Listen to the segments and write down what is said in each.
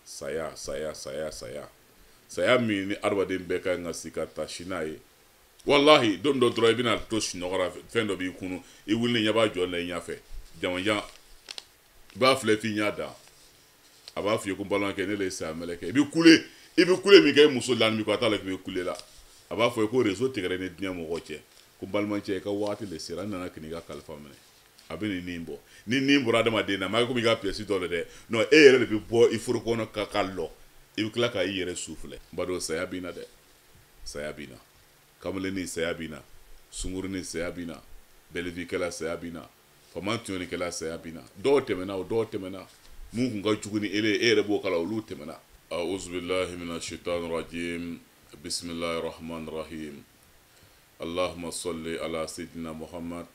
saya saya saya saya saya min ni adamaden bɛɛ ka ɲi ka si ka tasi n'a ye walahi don dɔ dɔrɔn i bɛna to sunɔgɔ la fɛn dɔ b'i kunu i wuli ɲɛ b'a jɔ la i ɲɛfɛ jamajan i b'a filɛ f'i ɲ'a dan a b'a f'i ye ko balimakɛ ne de ye saya mɛlɛkɛ i bɛ kule i bɛ kule min kɛ i muso lanin b'i kɔ a t'a lɔn k'i bɛ kule la a b'a fɔ ye ko rezo tigɛra i ni diɲɛ mɔgɔ cɛ ko balimacɛ i ka waati de sera n nana k'i ka kalifa minɛ a bɛ nin nin bɔ ni nin bɔra adamaden na maa komi i ka piyɛsi dɔ le dɛ non e yɛrɛ de bɛ bɔ i fari kɔnɔ ka ka lɔ i bɛ tila ka i yɛrɛ su filɛ n baden saya bɛ na dɛ saya bɛ na kamalennin saya bɛ na sungurunin saya bɛ na bɛlivikɛla saya bɛ na faama tɔɲɔnikɛla saya bɛ na dɔw tɛmɛna o dɔw tɛmɛna min tun ka jugu ni ele e yɛrɛ b'o kala olu tɛmɛna auzubillahi mina shaitan rajim bisimilahi rahman rahim allahumma salli ala sidina muhammad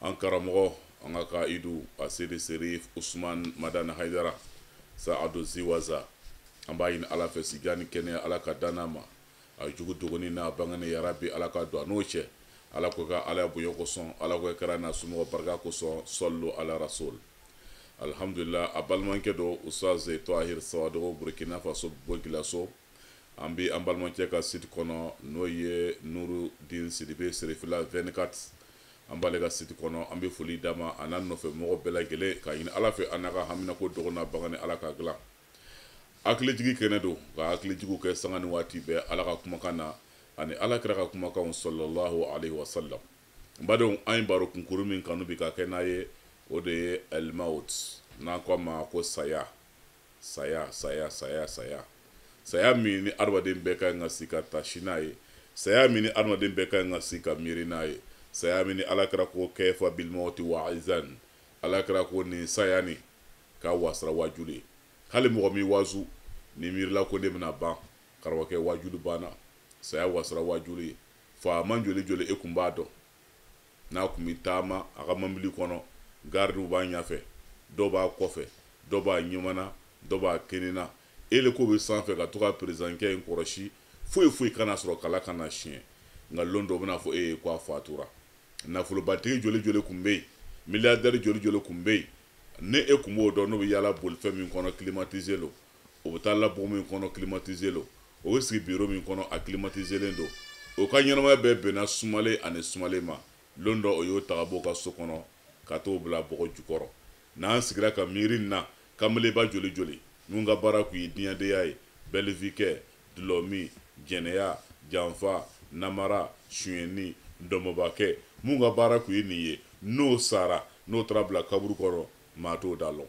an karamɔgɔ an ka kaidu aseyidi serif usman madani haidara sa ado ziwaza an b'a ɲini ala fɛ sijan ni kɛnɛya ala k'a d'a ma a jugu dogonin n'a bangenin yarabi ala ka don a n'o cɛ ala k'o kɛ alaya bonya kosɔn ala k'o kɛ kira n'a somɔgɔ barika kosɔn sɔlu ala rasul alihamdulila a balimakɛ don usitazi tahir sawadogo burukina faso bobo julaso an bɛ an balimacɛ ka site kɔnɔ n'o ye nuru din sidibe serifila 24 an b'ale ka site kɔnɔ an bɛ foli d'a ma a n'a nɔfɛ mɔgɔ bɛɛ lajɛlen k'a ɲini ala fɛ an n'a ka haminako dogo n'a bangenin ala k'a dilan hakilijigi kɛnɛ don ka hakilijigiw kɛ sanga ni waati bɛɛ ala ka kumakan na ani ala kira ka kumakanw sɔlɔlahu alayhi wa sallam n badenw an ye baro kunkuru min kanu bi ka kɛ n'aw ye o de ye alimawut n'an ko a ma ko saya saya saya saya saya saya min ni adamaden bɛɛ ka ɲi ka si ka tasi n'a ye saya min ni adamaden bɛɛ ka ɲi ka si ka miiri n'a ye saya min ni ala kira ko kafa bilimawuti waizan ala kira ko nin saya ni ka wasara wajulu ye hali mɔgɔ m'i waju n'i miirila ko ne bɛna ban karamɔgɔkɛ wajulu banna saya wasara wajulu ye faama joli joli e kun b'a dɔn n'a tun bɛ taama a ka mobili kɔnɔ garidiw b'a ɲɛfɛ dɔ b'a kɔfɛ dɔ b'a numan na dɔ b'a kinin na eliko bɛ sanfɛ ka to ka perezdankɛ in kɔrɔsi foyi foyi kan'a sɔrɔ kala kana siɲɛ nka lon dɔ bɛna fɔ e ye ko a fatura nafolobatigi joli joli tun bɛ yen miliyardɛri joli joli tun bɛ yen ni e tun b'o dɔn n'o bɛ yaala bolifɛn min kɔnɔ kilimatize lo o bɛ taa la bon min kɔnɔ climatisé lo o bɛ sigi bureau min kɔnɔ a climatisélen don o ka ɲɛnamaya bɛɛ bɛnna sumalen ani sumalen ma lon dɔ o y'o ta ka b'o ka so kɔnɔ ka t'o bila bɔgɔ jukɔrɔ n'an sigira ka miiri nin na kamalenba joli joli minnu ka baara tun ye diɲɛdenya ye bɛlivikɛ dulɔmin jɛnɛya janfa namara sunyɛnni ndɔmɔbakɛ minnu ka baara tun ye nin ye n'o sara n'o taara bila kaburu kɔnɔ maa t'o da lɔn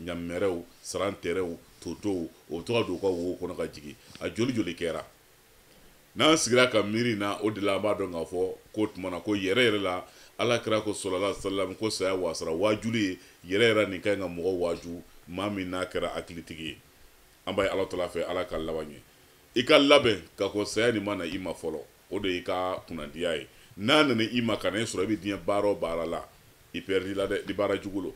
ɲamɛrɛw sarantɛrɛw totow o bɛ taa don ka wo kɔnɔ ka jigin a joli joli kɛra n'an sigira ka miiri na o de la an b'a dɔn k'a fɔ k'o tuma na ko yɛrɛ yɛrɛ la ala kira ko sɔlɔla salam ko saya wasara waajuli ye yɛrɛ yɛrɛ nin ka ɲi ka mɔgɔ waaju maa min n'a kɛra hakilitigi ye an b'a ɲini ala tala fɛ ala ka laban ye i ka labɛn ka ko saya nin ma na i ma fɔlɔ o de y'i ka kunnandiya ye n'a nana i ma ka na i sɔrɔ i bɛ diɲɛ baara o baara la i pɛridila dɛ ni baara jugu lo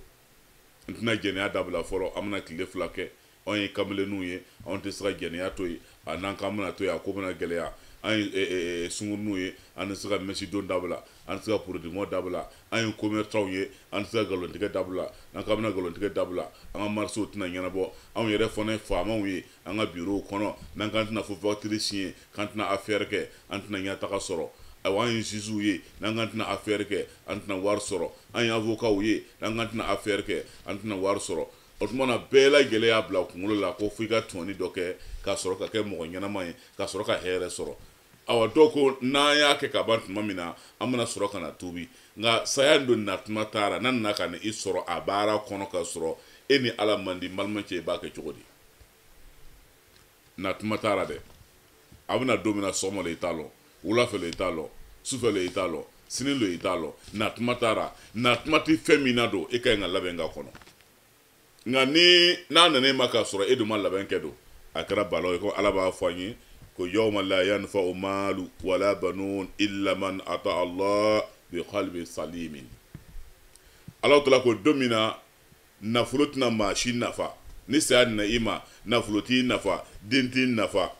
n tɛna jɛnɛya dabila fɔlɔ an bɛna tile fila kɛ anw ye kamalenninw ye anw tɛ se ka jɛnɛya to yen a n'an k'an bɛna to yen a ko bɛna gɛlɛya an ye eh, eh, eh, sunguruninw ye an tɛ se ka mɛsi don dabila an tɛ se ka porodi mɔ dabila an ye komɛrisanw ye an tɛ se ka nkalontigɛ dabila n'an k'an bɛna nkalontigɛ dabila an ka marisew tɛna ɲɛnabɔ anw yɛrɛ fana ye faamaw ye an ka birow kɔnɔ n'an k'an tɛna fo fakitiri siɲɛ k'an tɛna afɛɛrɛ kɛ an tɛna ɲɛtaga sɔrɔ ayiwa an ye ziziw ye n'an k'an tɛna afɛɛrɛ kɛ an tɛna wari sɔrɔ an ye avocatw ye n'an k'an tɛna affaire kɛ an tɛna wari sɔrɔ o tuma na bɛɛ lajɛlen y'a bila kunkolo la ko fo i ka tɔɲɔni dɔ kɛ ka sɔrɔ ka kɛ mɔgɔ ɲɛnama ye ka sɔrɔ ka hɛrɛ sɔrɔ awa dɔw ko n'an y'a kɛ ka ban tuma min na an bɛna sɔrɔ ka na tuubi nka saya dun na tuma t'a ra n'a nana ka na i sɔrɔ a baara kɔnɔ ka sɔrɔ e ni ala man di n balima cɛ i b'a kɛ cogo di na tuma t'a la dɛ a bɛna don min na sɔgɔma lo i t'a lɔn wula fɛ lo i t'a lɔn su fɛ lo i t'a lɔn sini lo i t'a lɔn na tuma t'a la na tuma tɛ fɛn min na don e ka ɲi ka labɛn k'a kɔnɔ nka ni n'a nana e ma k'a sɔrɔ e dun ma labɛn kɛ don a kɛra balawu ye ko ala b'a fɔ an ye ko yawma la yanfa'u maalu wala banun illa man ata allah bi qalbin salimin ala tala ko don min na nafolo tɛna maa si nafa ni saya nana i ma nafolo t'i nafa den t'i nafa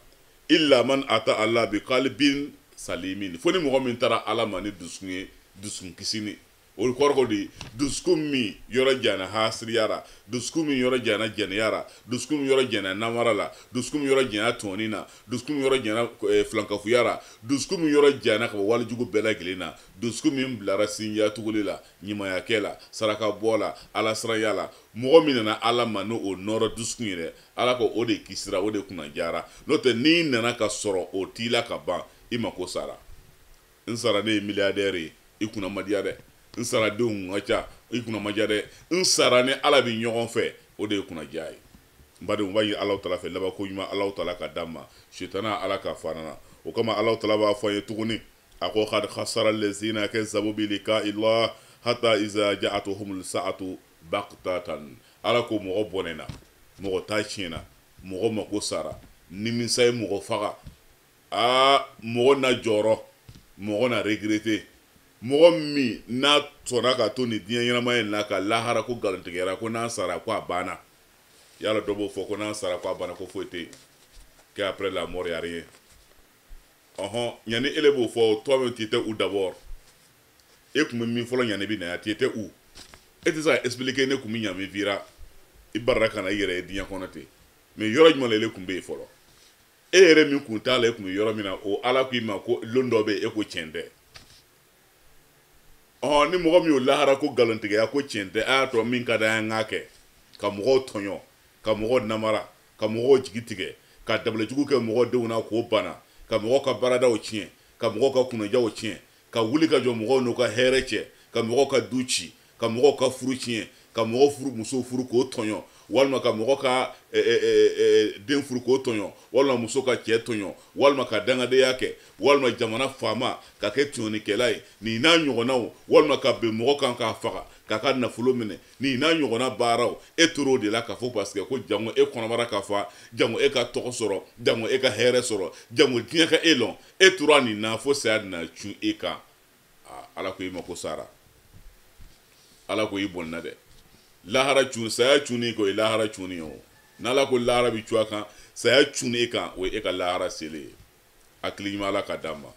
illa man ata Allah bi qalbin salimin fo ni mɔgɔ min taara Ala ma ni dusukun ye dusukun kisinin o kɔrɔ ko di dusukun min yɔrɔ jana hasidiya ra dusukun min yɔrɔ jana jɛnɛya ra dusukun min yɔrɔ jana namara la dusukun min yɔrɔ jana tɔɲɔni na dusukun min yɔrɔ jana eh, filankafoya ra dusukun min yɔrɔ jana ka bɔ wale jugu bɛɛ lajɛlen na dusukun min bilara sinjiya tuguli la ɲumanya kɛ la saraka bɔ la alasiranya la mɔgɔ min nana ala ma ni o nɔrɔ dusukun ye dɛ ala ko o de kisira o de kunnadiyara n'o tɛ n'i nana ka sɔrɔ o t'i la ka ban i mako sara n sara ne ye miliyadɛri ye i kunna ma diya dɛ n sara denw ka ca i kunna ma diya dɛ n sara ni ala bɛ ɲɔgɔn fɛ o de ye kunnadiya ye n badenw an b'a ɲini alaw tala fɛ labanko ɲuman alaw tala ka d'an ma sitana ala k'a fara an na o kama alaw tala b'a fɔ an ye tuguni a ko kad khasara allazina kazabu bi lika illa hatta iza ja'atuhum sa'atu baqtatan ala ko mɔgɔ bɔnɛna mɔgɔ ta tiɲɛna mɔgɔ mako sara nimisa ye mɔgɔ faga aa mɔgɔ na jɔrɔ mɔgɔ na regrete mɔgɔ min n'a sɔnna ka to ni diɲɛ ɲɛnamaya in na ka lahara ko nkalontigiya ko n'a sara ko a banna yala dɔ b'o fɔ ko n'a sara ko a banna ko foyi tɛ yen kɛ après la mort y'a rien ɔhɔn ɲani ele b'o fɔ o toi-même tu étais où d'abord e tun bɛ min fɔlɔ ɲan'i bɛ na yan tu étais où e tɛ se k'a expliquer ne tun bɛ ɲami vira i barira ka na i yɛrɛ ye diɲɛ kɔnɔ ten mais yɔrɔ jumɛn la ele tun bɛ yen fɔlɔ e yɛrɛ min kun t'a la e tun bɛ yɔrɔ min na o ala k'i ma ko lon dɔ bɛ yen e ko tiɲɛ tɛ ɔhɔn ni mɔgɔ min y'o lahara ko nkalontigiya ko tiɲɛ tɛ a y'a to min ka d'an ye an k'a kɛ ka mɔgɔw tɔɲɔ ka mɔgɔw namara ka mɔgɔw jigi tigɛ ka dabalijugu kɛ mɔgɔ denw na k'o bana ka mɔgɔ ka baaradaw tiɲɛ ka mɔgɔ ka kunnajaw tiɲɛ ka wuli ka jɔ mɔgɔw n'u ka hɛrɛ cɛ ka mɔgɔ ka du ci ka mɔgɔ ka furu tiɲɛ ka mɔgɔ furu muso furu k'o tɔɲɔ walima ka mɔgɔ ka e, e, e, den furu k'o tɔɲɔ walima muso ka cɛɛ tɔɲɔ walima ka dangadenya kɛ walima jamana faama ka kɛ tɔɲɔnikɛla ye nin n'a ɲɔgɔnnaw walima ka ben mɔgɔ kan k'a faga k'a ka nafolo minɛ nin n'a ɲɔgɔnna baaraw e tor'o de la k'a fɔ parce que ko jango e kɔnɔbara ka fa jango e ka tɔgɔ sɔrɔ jango e ka hɛrɛ sɔrɔ jango diɲɛ ka e lɔn e tora nin na fo saya na cun e kan ala ko i mako sara ala ko i bɔnna dɛ lahara cun saya cunni ko i lahara cunni ye o n'ala ko lahara bi cun a kan saya cunni e kan o ye e ka lahara selen ye hakili ɲuman ala k'a d'an ma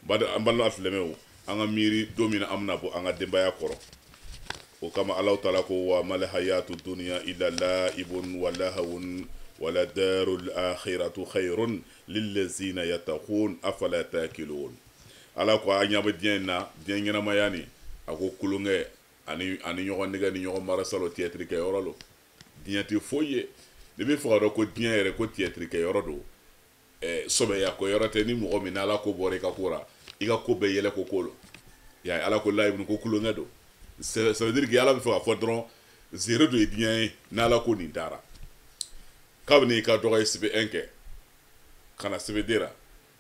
an balima silamɛw an ka miiri don min an bɛna bɔ an ka denbaya kɔrɔ o kama alahu taala ko wa mal hayatu dunya illa laibun wa lahawun wala darul akhiratu khayrun lillazina yattaqun afala taqilun ala ko an ɲɛ bɛ diɲɛ in na diɲɛ ɲɛnamaya nin a ko tulonkɛ ani ani ɲɔgɔn nɛgɛn ni ɲɔgɔn marasa lo tiyɛtiri kɛ yɔrɔ lo diɲɛ tɛ foyi ye n'i b'a fɛ k'a dɔn ko diɲɛ yɛrɛ ko tiyɛtiri kɛ yɔrɔ don eh, sɔbɛya ko yɔrɔ tɛ ni mɔgɔ min n'ala ko bɔra i ka ko ra i ka ko bɛɛ yɛlɛko ko lo ya ala ko laibun ko tulonkɛ don ça veut dire que ala b'a fɛ k'a fɔ dɔrɔn zéro do ye diɲɛ ye n'ala ko nin t'a ra kabini i ka dɔgɔ ye CP un kɛ ka na CP deux ra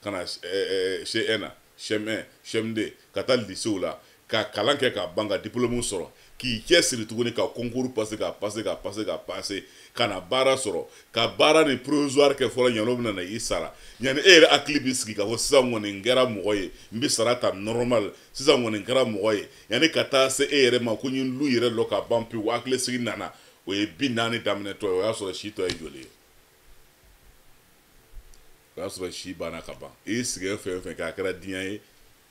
ka na CE un na CM un CM deux ka taa lisew la ka kalan kɛ ka ban ka diplôme sɔrɔ k'i cɛ siri tuguni ka concours passer ka passer ka passer ka passer ka na baara sɔrɔ ka baaranin provisoire kɛ fɔlɔ ɲan'o bɛna na i sara ɲani e yɛrɛ hakili b'i sigi ka fɔ sisan kɔni n kɛra mɔgɔ ye n bɛ sara ta normal sisan kɔni n kɛra mɔgɔ ye yanni ka taa se e yɛrɛ ma ko n ye lu yɛrɛ lɔ ka ban pewu hakili sigi nana o ye bi naani daminɛtɔ ye o y'a sɔrɔ si tɔ ye joli ye o y'a sɔrɔ si banna ka ban i sigɛ fɛn fɛn kɛ a kɛra diɲɛ ye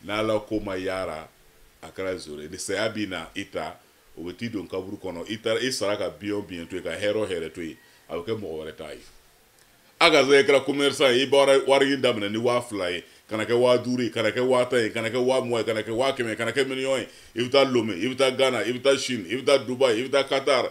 n'ala ko ma y'a ra a kɛra zoro ye ni saya bɛna i ta o bɛ t'i don kaburu kɔnɔ i taara i sara ka bien o bien to yen ka hɛrɛ o hɛrɛ to yen a bɛ kɛ mɔgɔ wɛrɛ ta ye a ka zɛɛ kɛra commerçant ye i bɔra wari ɲini daminɛ ni waa fila ye ka na kɛ waa duuru ye ka na kɛ waa tan ye ka na kɛ waa mugan ye ka na kɛ waa kɛmɛ ye ka na kɛ miliyɔn ye i bɛ taa lome i bɛ taa gana i bɛ taa chine i bɛ taa dubai i bɛ taa qatar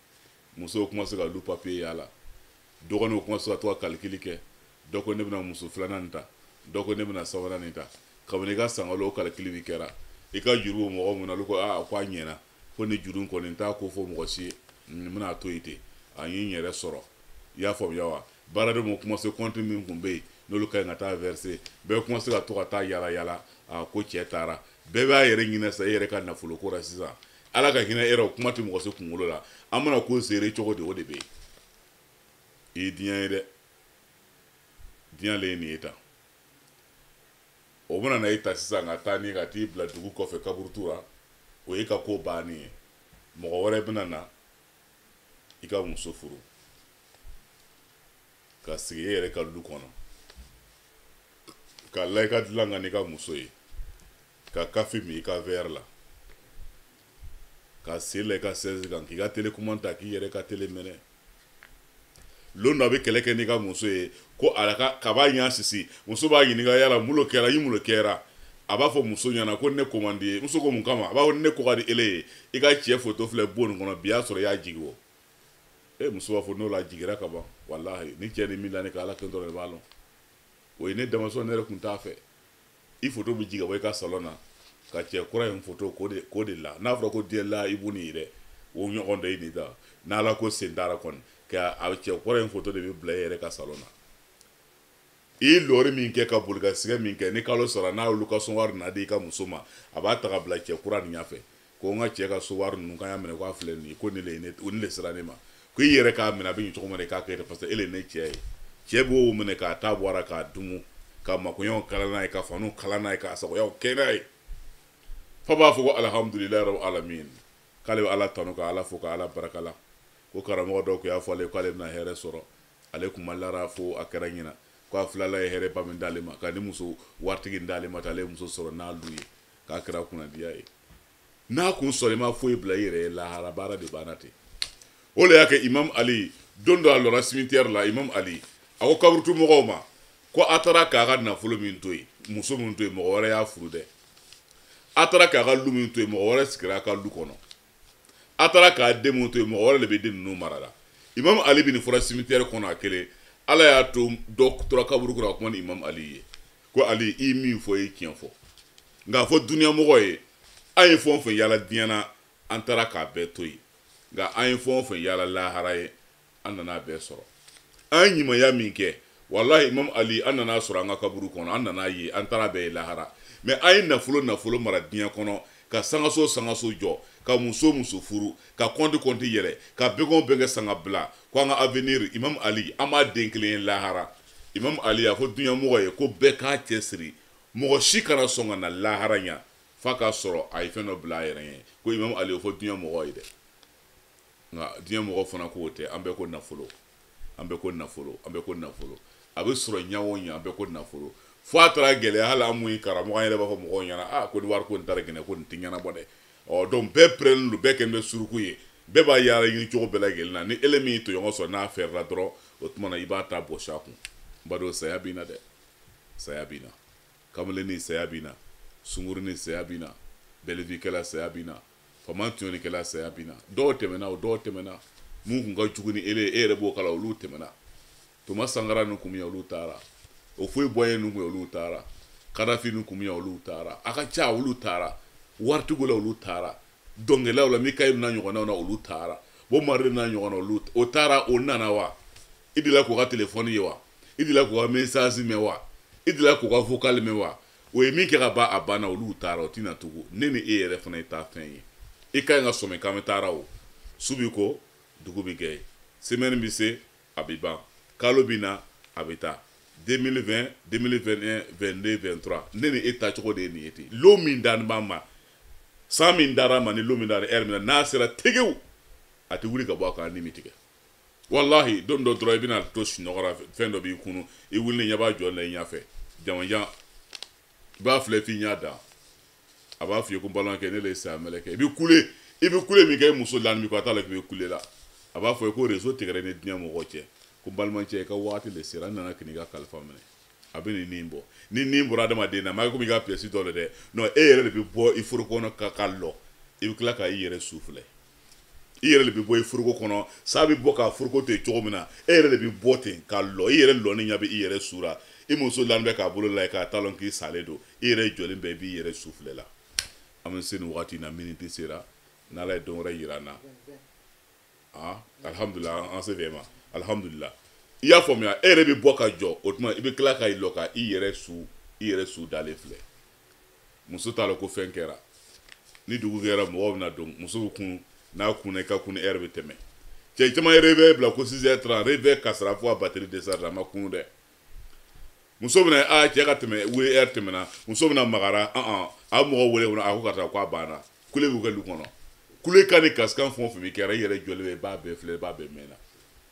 musow kɔmanse ka olu papiye yaala dɔgɔninw kɔmanse ka to ka kalikili kɛ dɔ ko ne bɛna muso filanan nin ta dɔ ko ne bɛna sabanan nin ta kabini i ka sanga lon o kalikili bi kɛra i ka juru bɛ mɔgɔ min na olu ko aa ko a ɲɛna ko nin juru kɔni n t'a ko fɔ mɔgɔ si ye n bɛn'a to yen ten a ye n yɛrɛ sɔrɔ i y'a faamuya wa baaradenw ma kɔmanse kɔnti min tun bɛ yen n'olu ka ɲi ka taa vɛrse bɛɛ kɔmanse ka to ka taa yala yala a ko cɛ taara bɛɛ b'a yɛrɛ ɲini sa e yɛrɛ ka nafolo ko la sisan ala ka hinɛ e ra kuma tɛ mɔgɔ si kunkolo la an bɛna ko seere cogo de o de bɛ yen i ye diɲɛ ye dɛ diɲɛ le ye nin ye tan o bɛna na e ta sisan ka taa n'i ye ka t'i bila dugu kɔfɛ kaburutu la o y'i ka ko bannen ye mɔgɔ wɛrɛ bɛna na i ka muso furu ka sigi e yɛrɛ ka du kɔnɔ ka la i ka dilan kan n'i ka muso ye ka kafe min i ka vɛr la ka sen la i ka sɛzi kan k'i ka telekɔmandi ta k'i yɛrɛ ka tele mɛnɛ lon dɔ a bɛ kɛlɛ kɛ n'i ka muso ye ko a ka kaba ɲa sisi muso b'a ɲininka yala mun lo kɛra i mun lo kɛra a b'a fɔ muso ɲɛna ko ne ko man di i ye muso ko mun kama a b'a fɔ ne ko ka di e le ye i ka cɛ foto filɛ bon nin kɔnɔ bi y'a sɔrɔ i y'a jigi wɔ e muso b'a fɔ n'o lajigira ka ban walahi ni cɛ nin min da ne kan ala kelen dɔrɔn de b'a lɔn o ye ne damasɔn ne yɛrɛ tun t'a fɛ i foto bɛ jigin ka bɔ i ka salon na ka cɛ kura in foto k'o de k'o de la n'a fɔra ko diyɛ la i b'u ni yɛrɛ o ɲɔgɔn dɔ i ni ta n'ala ko sen t'a ra kɔni ka a cɛ kura in foto de bɛ bila i yɛrɛ ka salon na i ye lɔri min kɛ ka boli ka sigɛ min kɛ ni kalo sara n'a ye lokasiyɔn wari na di i ka muso ma a b'a ta ka bila cɛ kura nin ɲɛfɛ ko n ka cɛ ka so wari ninnu k'a y'a minɛ k'a filɛ nin ye ko ne le ye ne o ne le sera ne ma ko i yɛrɛ k'a minɛ a bɛ ɲɛ cogo min na i k'a kɛ ten parce que e le ye ne cɛ ye cɛ b'o minɛ k'a ta bɔ a la k'a dumu ka makoɲɛw kala n'a ye ka faniw kala n'a ye k'a sagoyaw kɛ n'a ye fa b'a fɔ ko alihamudulilayi rabi alamin k'ale bɛ ala tanu ka ala fo ka ala barika la ko karamɔgɔ dɔ tun y'a fɔ ale ye k'ale bɛna hɛrɛ sɔrɔ ale tun ma la a ra fo a kɛra ɲinan ko a filɛ ala ye hɛrɛba min d'ale ma ka nin muso waritigi d'ale ma k'ale muso sɔrɔ n'a lu ye k'a kɛra kunnadiya ye n'a kun sɔrɔ i ma foyi bila i yɛrɛ ye lahara baara de banna ten o le y'a kɛ imam ali don dɔ a lɔra cimetière la imam ali a ko kaburutu mɔgɔw ma ko a taara k'a ka nafolo min to yen muso min to yen mɔgɔ wɛrɛ y'a furu dɛ a taara k'a ka lu min to yen mɔgɔ wɛrɛ sigira a ka lu kɔnɔ a taara k'a den min to yen mɔgɔ wɛrɛ le bɛ den ninnu mara la imam ali bɛ nin fɔra cimetière kɔnɔ a kelen ala y'a to dɔ tora kaburu kɔnɔ ka kuma ni imam ali ye ko ali i min fɔ i ye tiɲɛ fɔ nka a fɔ duniyamɔgɔ ye an ye fɛn o fɛn yaala diɲɛ na an taara k'a bɛɛ to yen nka an ye fɛn o fɛn yaala lahara ye an nana a bɛɛ sɔrɔ an ye ɲumanya min kɛ walahi imam ali an nana a sɔrɔ an ka kaburu kɔnɔ an nana ye an taara bɛɛ ye lahara mais an ye nafolo nafolo mara diɲɛ kɔnɔ ka sangaso sangaso jɔ ka muso muso furu ka kɔnti kɔnti yɛlɛ ka bɛnkɔn bɛnkɛ sanga bila ko an ka avenir imam ali an m'a den kelen ye lahara imamu ali a fɔ duɲamɔgɔ ye ko bɛɛ k'a cɛ siri mɔgɔ si kana sɔn ka na lahara yan f'a k'a sɔrɔ a ye fɛn dɔ bila a yɛrɛ ye ko imamu ali o fɔ duɲamɔgɔ ye dɛ nka duɲamɔgɔ fana k'o tɛ an bɛɛ ko nafolo an bɛɛ ko nafolo an bɛɛ ko nafolo a bɛ sɔrɔ ɲa o ɲa an bɛɛ ko nafolo fo a taara gɛlɛya hali an min ye karamɔgɔ an yɛrɛ b'a fɔ mɔgɔw ɲɛna a ko ni wari ko nin t'a ra gɛnɛ ko nin tɛ ɲɛnabɔ dɛ ɔ donc bɛɛ pɛrɛnnen don bɛɛ kɛlen bɛ suruku ye bɛɛ b'a yaala ɲini cogo bɛɛ lajɛlen na ni ele min y'i tɔɲɔgɔn sɔrɔ n'a fɛrɛla dɔrɔn o tuma na i b'a ta bɔsi a kun n badon saya bɛ na dɛ saya bɛ na kamalennin saya bɛ na sungurunin saya bɛ na belle vie kɛla saya bɛ na faama tɔɲɔnikɛla saya bɛ na dɔw tɛmɛna o dɔw tɛmɛna minnu kun ka jugu ni ele ye e yɛrɛ b'o kala olu tɛmɛna thomas sankara ni kun olu taara houphouët boigny ni kun olu taara kadafi ni kun olu taara a ka ca olu taara waritigiw la olu taara dɔnkɛlaw la michael n'a ɲɔgɔnnaw na olu taara bob marley n'a ɲɔgɔnna olu o taara o nana wa i delila k'u ka telefɔni ye wa i delila k'u ka mesasi mɛn wa i delila k'u ka vokali mɛn wa o ye min kɛ ka ban a banna olu taara o tɛ na tugun ne ni e yɛrɛ fana ye taa fɛn ye i ka ɲi ka sɔmi k'an bɛ taara o su bi ko dugu bi jɛ semɛni bi se a bɛ ban kalo bɛ na a bɛ taa 2020 2021 22 23 ne ni e taacogo de ye nin ye ten lon min dani b'an ma san min dara an ma ni lon min dara ɛri min na n'a sera tegew a tɛ wuli ka bɔ a kan ni mi tigɛ walahi don dɔ dɔrɔn i bɛna to sunɔgɔ la fɛn dɔ b'i kunun i wulilen b'a jɔ la i ɲɛfɛ jamajan i b'a filɛ f'i ɲa dan a b'a f'i ye ko n balimakɛ ne le ye saya mɛlɛkɛ i bɛ kule i bɛ kule min kɛ i muso lanin i kɔ a t'a lɔn k'i bɛ kule la a b'a f'i ye ko rezo tigɛra i ni diɲɛ mɔgɔ cɛ ko n balimacɛ i ka waati le sera n nana ka n'i ka kalifa minɛ a bɛ ni nin bɔ ni nin bɔra adamaden na ma kɛ komi i ka piyɛsi dɔ le dɛ non e yɛrɛ le bɛ bɔ i foroko kɔnɔ ka ka lɔ i bɛ tila ka i yɛrɛ su filɛ i yɛrɛ de bɛ bɔ i foroko kɔnɔ sa bɛ bɔ k'a foroko to yen cogo min na e yɛrɛ de bɛ bɔ ten ka lɔ i yɛrɛ lɔni ɲɛ bɛ i yɛrɛ su la i muso lani bɛ k'a bolo la i kan a t'a lɔn k'i salen don i yɛrɛ jɔlen bɛ i b'i yɛrɛ su filɛ la an bɛ se nin wagati in na miniti sera n'ala ye don wɛrɛ yira an na ah alihamudulila an se fɛ ma alihamudulila i y'a faamuya e yɛrɛ bɛ bɔ ka jɔ o tuma i bɛ tila ka i lɔ ka i yɛrɛ su i yɛrɛ su dalen filɛ muso t'a la ko fɛn kɛra ni dugu jɛra mɔgɔw bɛna don muso bɛ kun n'a kunna i ka kunni ɛri bɛ tɛmɛ cɛ caman ye réveil bila ko six heures trente réveil kasira fo a batiri desarzera a ma kun dɛ muso bɛna a cɛ ka tɛmɛ wuli ɛri tɛmɛna muso bɛna magara an a mɔgɔ wele kɔnɔ a ko ka taa ko a banna kule b'u kɛ du kɔnɔ kulekan ni kasikan fɛn o fɛn bɛ kɛra i yɛrɛ jɔlen bɛ i b'a bɛɛ filɛ i b'a bɛɛ mɛnna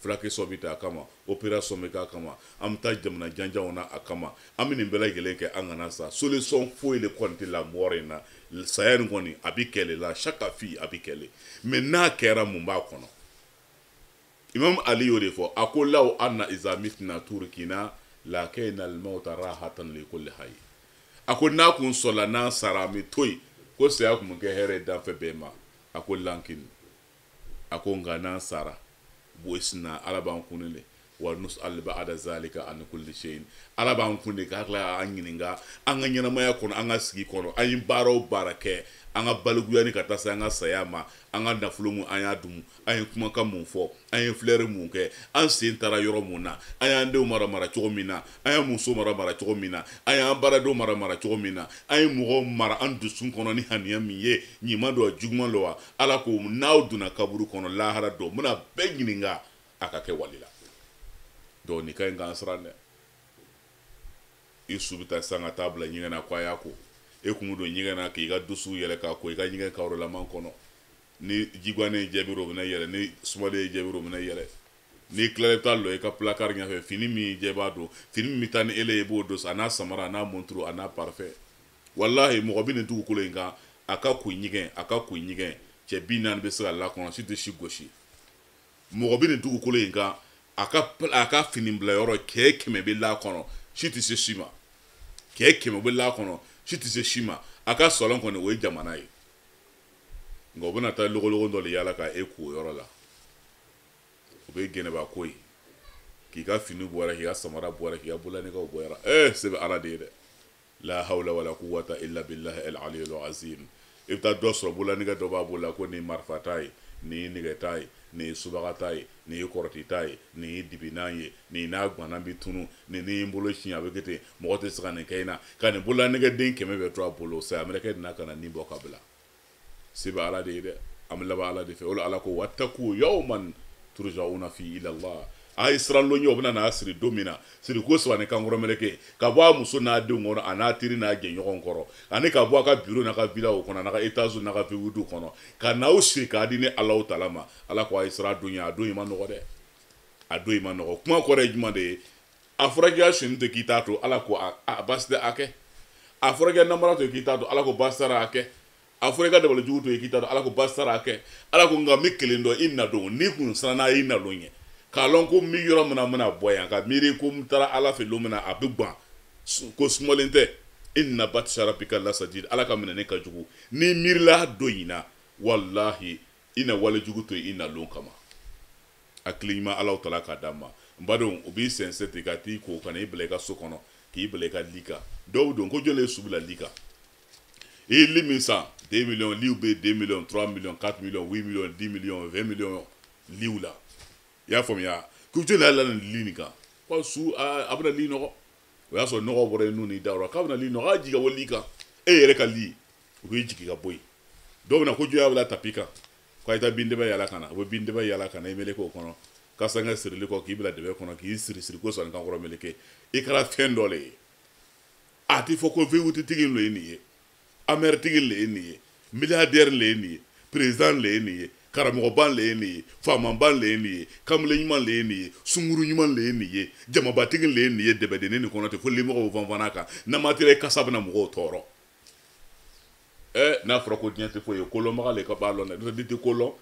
fulake sɔn bɛ taa a kama opération bɛ k'a kama an bɛ taa jamana janjanw na a kama an bɛ nin bɛɛ lajɛlen kɛ an kana sa solution foyi de kɔni tɛ la mɔgɔ in na saya nin kɔni a bɛ kɛ le la shakka fihi a bɛ kɛ le mais n'a kɛra mun b'a kɔnɔ imam ali y'o de fɔ a ko law anna iza mitna turikna lakana almautu rahatan li kulli hayy a ko n'a kun sɔrɔla n'an sara an bɛ to yen ko saya kun bɛ kɛ hɛrɛ ye danfɛn bɛɛ ma a ko lakin a ko nka n'an sara bu'isna ala b'an kun de wa nus'alu ba'da zalika an kulli shay'in ala b'an kun de k'a tila an ɲininka an ka ɲɛnamaya kɔnɔ an ka sigi kɔnɔ an ye baara o baara kɛ an ka balikuya ni ka taa se an ka saya ma an ka nafolo mun an y'a dumu an ye kumakan mun fɔ an ye filɛri mun kɛ an sen taara yɔrɔ mun na an y'an denw mara mara cogo min na an ye muso mara mara cogo min na an y'an baaradenw mara mara cogo min na an ye mɔgɔw mara an dusu kɔnɔ ni haniya min ye ɲuman don wa juguman don wa ala ko n'aw donna kaburu kɔnɔ lahara don a bɛna bɛɛ ɲininka a ka kɛwali la don nin ka ɲi k'an siran dɛ i su bɛ ta sa ka taa bila ɲɛgɛn na ko a y'a ko e kun don ɲɛgɛn na k'i ka dusi yɛlɛ k'a ko i ka ɲɛgɛn karolaman kɔnɔ ni ji gwannen jaabi o bɛna yɛlɛ ni sumalen jaabi o bɛna yɛlɛ n'i tilala i bɛ taa lɔ i ka pilakari ɲɛfɛ fini min jɛ b'a don fini min bɛ taa ni ele ye i b'o don sa a n'a samara a n'a monturu a n'a parfum walahi mɔgɔ bɛ nin dugukolo in kan a ka koɲɛgɛn a ka koɲɛgɛn cɛ bi naani bɛ se ka la a kɔnɔ si tɛ si gosi mɔgɔ bɛ nin dugukolo in kan a ka a ka fini bila yɔrɔ cɛ kɛmɛ bɛ la kɔnɔ si tɛ se si ma cɛ kɛmɛ bɛ la kɔnɔ si tɛ se si ma a ka salon kɔni o ye jamana ye nka u bɛna taa logologo dɔ de yala ka e ko o yɔrɔ la o bɛ gɛnɛba ko ye k'i ka fini bɔra k'i ka samara bɔra k'i ka bololanɛgɛw bɔra ee se bɛ ala de ye dɛ la hawla wala quwwata illa billahi al aliyyil azim i bɛ taa dɔ sɔrɔ bololanɛgɛ dɔ b'a bolo la ko nin ye marifata ye nin ye nɛgɛta ye nin ye subagata ye nin ye kɔrɔtita ye nin ye dibinan ye nin n'a gwanna bɛ tunu nin ni n bolo siɲɛ a bɛ kɛ ten mɔgɔ tɛ se ka nin kɛ n na ka nin bololanɛgɛden kɛmɛ bɛɛ to a bolo saya mɛlɛkɛ nana ka na ni bɔ ka bila se bɛ ala de ye dɛ an bɛ laban ala de fɛ o ala ko wataku yawman turijauna fi ilallah a ye siran lon ye u bɛna n'a siri don min na siriko saba ni kankɔrɔ meleke ka bɔ a muso n'a denw kɔnɔ an'a teri n'a jɛɲɔgɔn kɔrɔ ani ka bɔ a ka biro n'a ka vilaw kɔnɔ n'a ka etazi n'a ka vewuti kɔnɔ ka n'aw siri k'a di ni alaw tala ma ala ko a ye siran don ye a don in man nɔgɔ dɛ a don in man nɔgɔ kuma kɔrɔ ye jumɛn de ye a fɔra k'i ka sonya to k'i t'a to ala ko a baasi tɛ a kɛ a fɔra k'i ka namara to k'i t'a to ala ko baasi tɛ a kɛ a fɔra i ka dabali jugu to k'i t'a to ala ko baasi tɛ a kɛ ala ko nka n bɛ kelen dɔn i nadon n'i kun siranna i nadon ye k'a lɔn ko n bɛ yɔrɔ min na n bɛna bɔ yan ka miiri ko n taara ala fɛ don min na a bɛ ban ko sumalen tɛ inna batisa rabika lasadid ala ka minɛni ka jugu n'i miirila don in na walahi i na wale jugu to i nadon kama hakili ɲuman alaw tala k'a d'a ma n badenw u b'i sɛnsɛn ten ka t'i ko ka na i bila i ka so kɔnɔ k'i bila i ka li kan dɔw don ko jɔn le ye su bila li kan i ye li min san 2 miliyɔn liw bɛ 2 miliyɔn 3 miliyɔn 4 miliyɔn 8 miliyɔn 10 miliyɔn 20 miliyɔn liw la i y'a faamuya ko jɔn le y'a la nin li nin kan ko su a bɛna li nɔgɔ o y'a sɔrɔ nɔgɔ bɔra i nun n'i da yɔrɔ k'a bɛna li nɔgɔ a jigin ka bɔ li kan e yɛrɛ ka li u b'i jigin ka bɔ yen dɔw bɛ na ko jɔn y'a bila tapi kan ko a ye taa bin dɛbɛ yaala ka na u bɛ bin dɛbɛ yaala ka na i meleke o kɔnɔ kasanke sirili kɔ k'i bila dɛbɛ kɔnɔ k'i siri siriko saba ni kankɔrɔ meleke i kɛra fɛn dɔ le ye a ti fɔ ko vewutitigi le ye nin ye amɛritigi le ye nin ye miliyadɛri le ye nin ye perezidan le ye nin ye karamɔgɔba le ye nin ye faamaba le ye nin ye kamelen ɲuman le ye nin ye sunguru ɲuman le ye nin ye jamabatigi le ye nin ye dɛbɛdenni nin kɔnɔ ten fo limɔgɔw fanfana kan namatira i kasa bɛna mɔgɔw tɔɔrɔ eh, n'a fɔra ko diɲɛ tɛ foyi ye kolɔnbaga le ka b'a lɔn dɛ n'i tɛ ko lɔn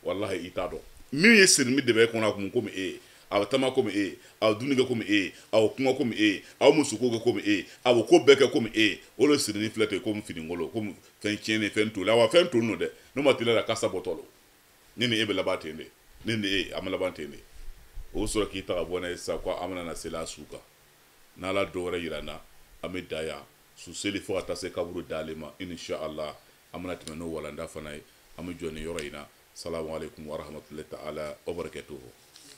walahi i t'a dɔn min ye sirinin dɛbɛ in kɔnɔ a kun komi e ye a bɛ taama komi e ye a bɛ dumuni kɛ komi e ye a bɛ kuma komi e ye a bɛ musoko kɛ komi e ye a bɛ ko bɛɛ kɛ komi e ye o le sirinin filɛ ten komi fininkolo komi fɛn tiɲɛnen fɛn toli awa fɛn toli don dɛ n'u ma tila a la kasa bɔtɔ don ne ni e bɛ laban ten de ne ni e an bɛ laban ten de u bɛ sɔrɔ k'i ta ka bɔ n'a ye sisan ko an bɛna na seli a su kan n'ala don wɛrɛ yira an na an bɛ dan yan su seli fo ka taa se kaburu dali ma inshallah an bɛna tɛmɛ n'o walanda fana ye an bɛ jɔ nin yɔrɔ in na salamu aleykum warahmatulahi taala wabarakatuhu